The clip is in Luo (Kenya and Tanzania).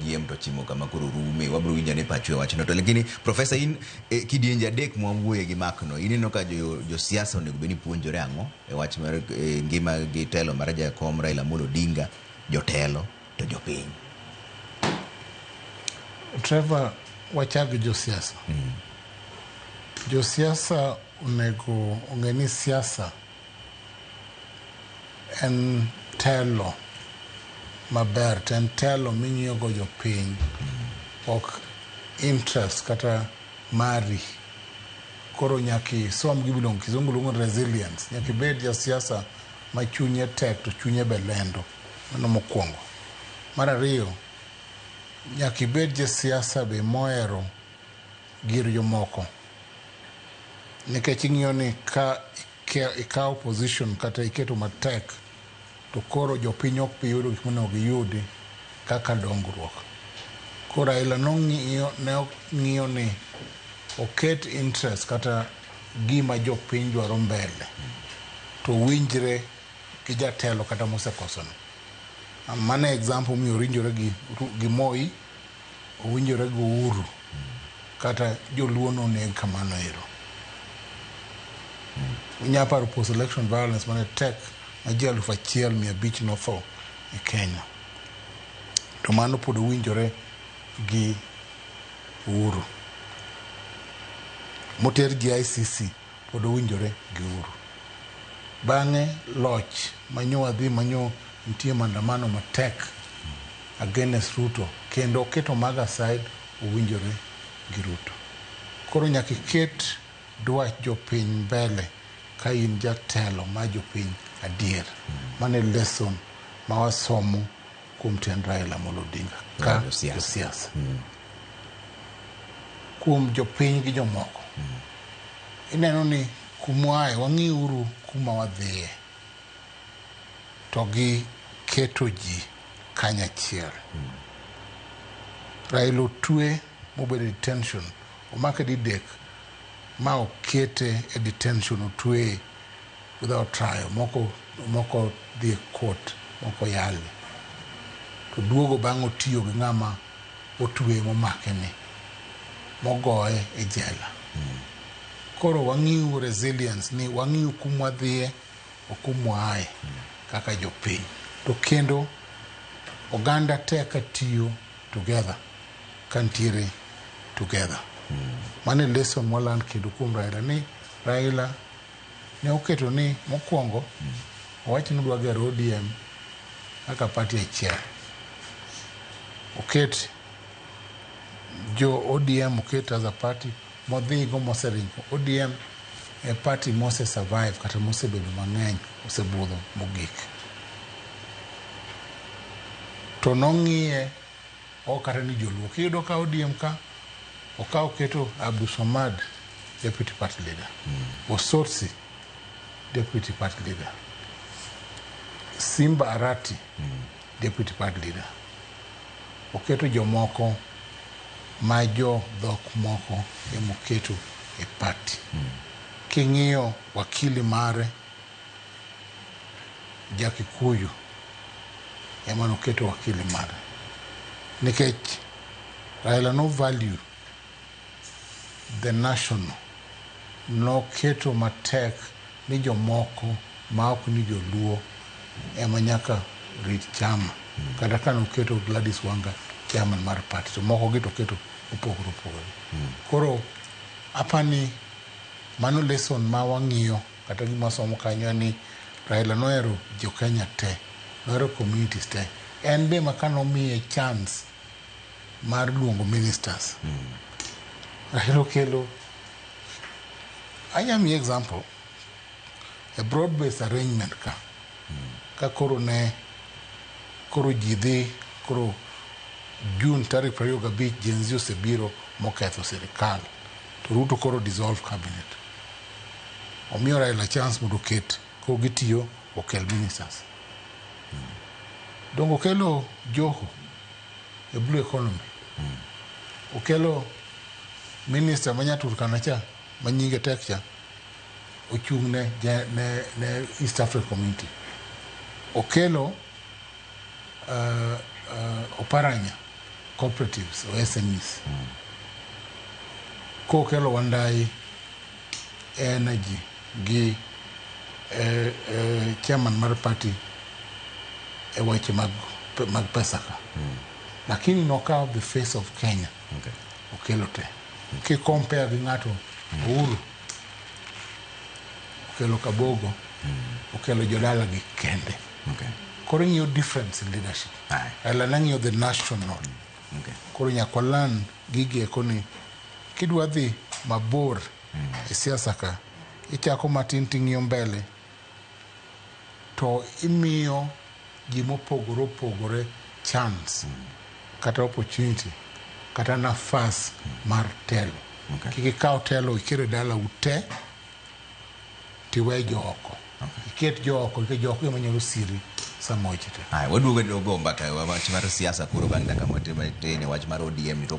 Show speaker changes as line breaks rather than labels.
piem to chimo kama koro rume wabiro winjo ne pachu e wachno to lakini profesa in e, kidienje adek mwawuoye gi makno ineno ka jo- josiasa onego bed ni puonjore ang'o e wach mar e, ngima gi telo mar jakom Raila Amolo Odinga jotelo to jopiny
Trevor, wachag josiasa. Josiasa onego ong'e ni siasa en telo maber to en telo ming'iyogo jopiny ok interest kata mari koro nyaka isom gimiluongo kizungu luongo ni resilience nyaka ibed jasiasa ma chunye tek to chunye be lendo mano mokwongo mar ariyo nyaka ibed jasiasa be mohero gir jomoko nikech ing'iyo ni ka ikawo position kata iketo matek to koro jopiny ok bi yudo gik monego giyudi kaka dongruok. Koro Raila nong'iyo ne ng'iyo ni oket interest kata gima jopiny dwaro mbele to winjre gi jatelo kata mosekosono. Mano e example momiyo orinjore gi, gi Moi owinjore go uru kata joluo noneg kamano ero unya paro post election violence mane tek ma ji alufu achiel mia abich notho e Kenya to mano pod owinjore gi uru moter ji ICC pod owinjore gi uru. Bange loch manyo adhi manyo nitie mandamano matek against Ruto kendo oketo mago aside owinjore gi Ruto. Koro nyaka iket dwach jopiny mbele ka in jatelo ma jopiny adier. Mano e lesson ma wasomo. kuom tend Raila Amolo Odinga ka josiasa mm. kuom jopiny gi jomoko mm. ineno ni kumwaye wang'iuru kuma wadhiye to gi keto ji kanyachiel mm. Raila otwe mobedo detention omake didek ma okete e detention otweye without trial moko moko dhi e court moko yale to duogo bang' otiyo gi ng'ama otwe momake ni mogoye e jela koro wang'iu resilience ni wang'iu kumwa dhiye okumwa aye kaka jopiny to kendo oganda te ka tiyo together ka ntiere together mane lesson mwaland kendo kuom Raila ni Raila Ne oketo ni mokuongo owach ni odwa gero ODM kaka party achiel. Oket jo ODM oket as a party modhigo moseringo. ODM e party mose survive kata mosebedo mang'eny osebudho mogik. To nong'iye ok kata ni joluo kiyudo ka odiem ka okawo keto abdusomad deputy party leader mm. osotsi deputy party leader simba arati mm. deputy party leader oketo jomoko ma jo dhok moko emoketo e party mm. king'iyo wakili mare Ja-Kikuyu ema noketo wakili mare nikech Raila no value the national noketo matek ni jomoko ma ok ni joluo ema nyaka rit chama kata ka noketo Gladys Wanga chairman mar party to moko gi to keto opogore opogore koro apani mano lesson ma wang'iyo Kata gima wasomo kanyo en ni Raila nohero jo Kenya te, nohero communities te. En be ma ka nomiye chance mar luongo ministers. Raila okelo, anya miye example, a broad based arrangement ka. Ka koro ne, koro ji dhi, koro June tarik prariyo gabich Gen Z osebiro moketho sirikal. To Ruto koro dissolve cabinet. omiyo Raila chance mondo oket ko gitiyo okel ministers. Dongo okelo Joho e blue economy. Okelo minister ma Nyaturkana cha ma nyinge tek cha ochung' ne, ne, ne East Africa Community. Okelo uh, Oparanya cooperatives or SMEs mm. kokelo Wandai energy gi eh, eh, chairman mar party e weche mag, mag pesa ka mm. lakini nokawo the face of Kenya okay. okelo te mm. kikompea gi ng'ato mm. Uhuru okelo Kabogo mm. okelo jodala gi kende Okay. Koro ing'iyo difference in leadership. Aye. Ela nang'iyo the national. Okay. Koro nyaka walan gigi eko ni kidwa dhi mabor e siasa ka ichako matin ting'iyo mbele to imiyo ji mopogore opogore chance kata opportunity kata nafas mar telo Okay. kik ikaw telo ikere dala ute tiwe jo oko iket jo oko nikech jo oko ema nyalo siri sama weche tek
Haya, waduogo e dogo mbaka wach mar siasa koro bang' dakika matin
matin
wach mar ODM ni to